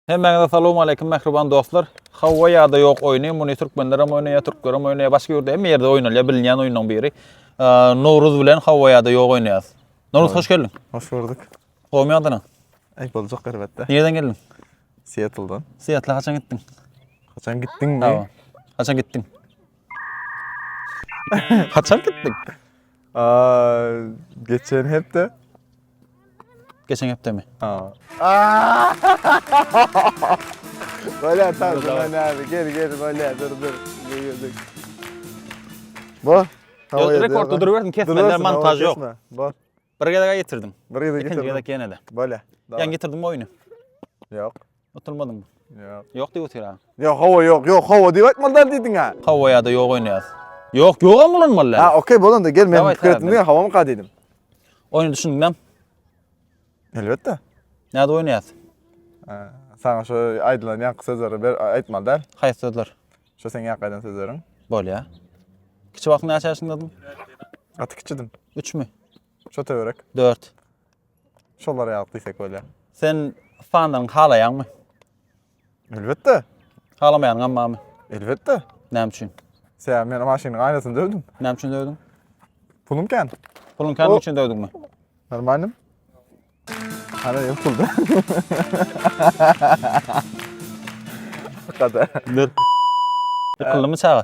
Hemmäňize salam aleýkum mähriban dostlar. Hawa ýa-da ýok oýny, muny türkmenler hem oýnaýar, türkler hem oýnaýar, başga ýurtda hem ýerde oýnalýar, bilinýän oýnuň biri. Nowruz bilen hawa ýa-da ýok oýnaýas. Nowruz hoş geldiň. Hoş gördük. Howmy ýagdaýlaň? Aý boljak elbetde. Nireden geldiň? Seattldan. Seattle haçan gitdiň? Haçan gitdiňmi? Haçan gitdiň? Haçan gitdiň? Geçen hepde. Geçen hepde mi? Ha. Böyle tarzı ben abi. Gel gel böyle dur dur. Bu. Rekord dur versin kesmeler montaj yok. Bu. Bir kere getirdim. Bir kere getirdim. İkinci kere gene de. Böyle. Yani getirdim oyunu. Yok. Utulmadyň. Ýok. Ýok diýip otyra. Ýok, hawa ýok, ýok, hawa diýip aýtmaly däl diýdiň-ä. Hawa ýa-da ýok oýnaýas. Ýok, ýogam ulanmaly däl. Ha, okey, bolanda gel men pikir etdim diýen hawamyka diýdim. Oýny düşündiňem? Elbetde. Näde oýnaýas? Saňa şu aýdylan ýaňky sözleri ber aýtmaly däl. Haýsy sözler? Şu seň ýaňky aýdan sözleriň. Bolýar. Kiçi wagtyň näçe ýaşyndadyň? Gaty kiçidim. Üçmi? Şo töwerek. Dört. Şolar ýaly diýsek bolýar. Sen fanlaryňy halaýaňmy? Elbetde. Halamaýanyňam barmy? Elbetde. Näme üçin? Sebäbi men maşynyň aýnasyny döwdüm. Näme üçin döwdüň? Pulum kän. Puluň kän üçin döwdüňmi? Normalnym. Hara ýok pulda. Kada. Ýykyldymy çaga?